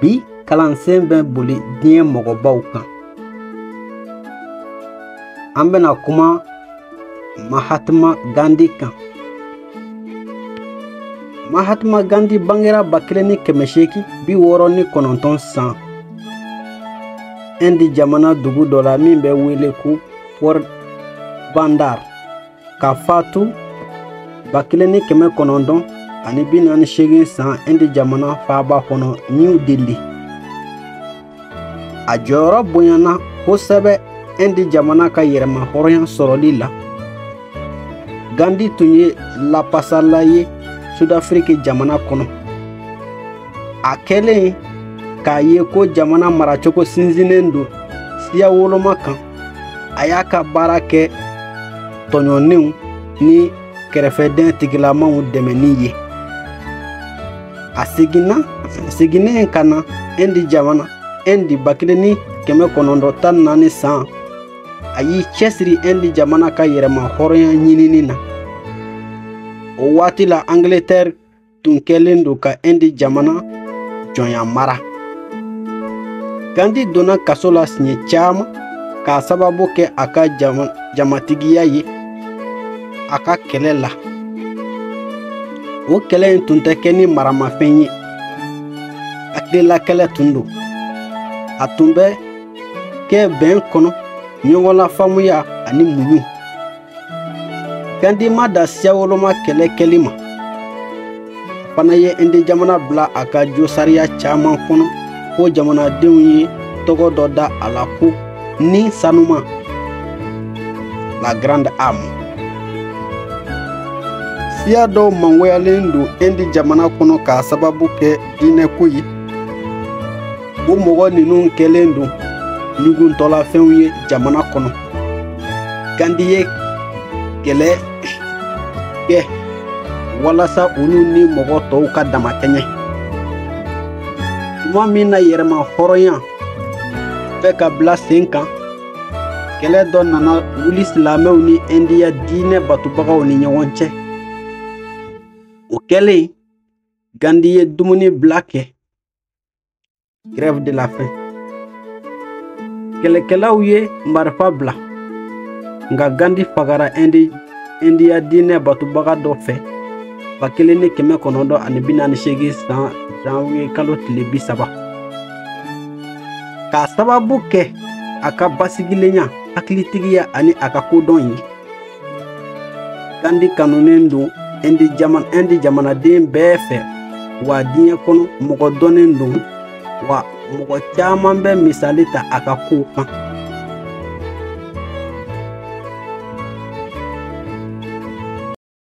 bi kalansen bɛ boli diɲɛ mɔgɔbaw kan an bɛna kuma mahatma gandi kan mahatma gandi bangera ba kelen ni kɛmɛ seegin bi wɔɔrɔ ni kɔnɔntɔn san indi jamana dugu dɔ la min bɛ wele ko porbandar ka fatu ba kelen ni kɛmɛ kɔnɔntɔn ani bi naani seegin san indi jamana faaba kɔnɔ new delhi a jɔyɔrɔ bonyana kosɛbɛ indi jamana ka yɛrɛma hɔrɔnya sɔrɔli la gandi tun ye lapasala ye sudafiriki jamana kɔnɔ a kɛlen k'a ye ko jamana maracogo sinsinnen don siya woloma kan a y'a ka baara kɛ tɔɲɔnnenw ni kɛrɛfɛden tigilamaw dɛmɛni ye a seginna seginnen ka na indi jamana indi ba kelen ni kɛmɛ kɔnɔntɔn tan ni naani san a y'i cɛsiri indi jamana ka yɛrɛma hɔrɔnya ɲinini na o waati la angletɛri tun kɛlen don ka indi jamana jɔnya mara gandi donna kaso la siɲɛ caman k'a sababu kɛ a ka jamatigiya ye a ka kɛlɛ la o kɛlɛ in tun tɛ kɛ ni maramafɛn ye hakililakɛlɛ tun don a tun bɛ kɛ bɛn kɔnɔ ɲɔgɔnlafaamuya ani muɲu gandi ma dan siyawoloma kɛlɛ kɛli ma a fana ye indi jamana bila a ka josariya caman kɔnɔ ko jamanadenw ye tɔgɔ dɔ da a la ko ni sanuma la grande âme siya dɔw mangoyalen don indi jamana kɔnɔ k'a sababu kɛ diinɛko ye o mɔgɔ ninnu kɛlen don ɲuguntɔlafɛnw ye jamana kɔnɔ gandi ye kɛlɛ kɛ walasa olu ni mɔgɔ tɔw ka damakɛɲɛ tuma min na yɛrɛma hɔrɔnya bɛ ka bila sen kan kɛlɛ dɔ nana wuli silamɛw ni indiya diinɛ batubagaw ni ɲɔgɔn cɛ o kɛlen gandi ye dumuni bila kɛ grève de la faim kɛlɛkɛlaw ye marifa bila nka gandi fagara indiya diinɛ batubaga dɔ fɛ ba kelen ni kɛmɛ kɔnɔntɔn ani bi naani seegin san janwiye kalo tile bi saba k'a sababu kɛ a ka basigilenya hakilitigiya ani a ka kodɔn ye gandi kanunen don ɛndi jamanaden bɛɛ fɛ wa diɲɛ kɔnɔ mɔgɔ dɔnnen don wa mɔgɔ caman bɛ misali ta a ka kow kan